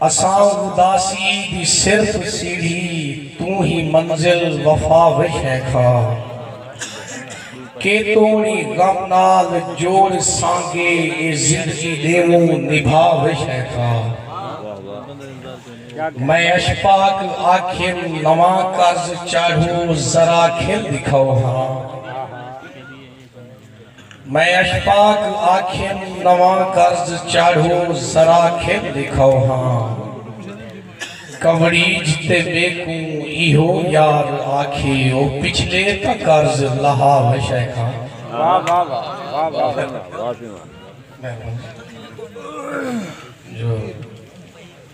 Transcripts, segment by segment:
اساں اداسی دی صرف سیڑھی توں ہی منزل وفا وچ ہے کھا کے توڑی غم نال جوڑ سانگے اے زندگی ڈیووں نبھا وچ ہے کھا میں اشفاق آکھیم نواں قرض چاڑھو ذرا کھل دکھاؤ ہاں۔ میں اشپاک آکھیم نواں قرض چاڑھو ذرا کھل ڈکھاؤ ہاں کنوڑیج تے میکوں ایہو یار آکھے او پچھلے تاں قرض لہا وے شیخا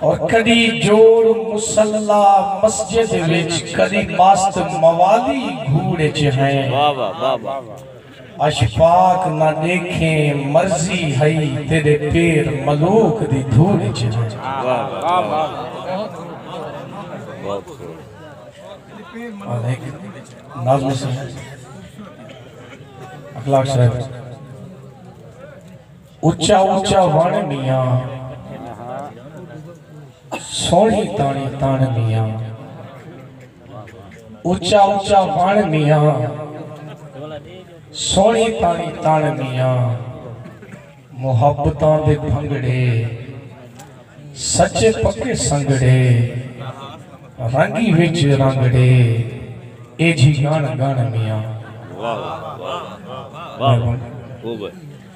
اور کڈی جوڑ مصلہ مسجد وچ کڈی مست موالی گھوڑ اچ ہیں اشفاق نہ ڈیکھیں مرضی ہئی تیڈے پیر ملوک دی دھوڑ اچ ہیں ناظم صاحب اخلاق صاحب اچا اچا وݨ میاں سوہݨی تاݨی تݨ میاں اچا اچا وݨ میاں سوہݨی تاݨی تݨ میاں محبتاں دے بھنگڑے سچے پکے سنگڑے رنگی وچ رنگڑے اے جھی گن گن میاں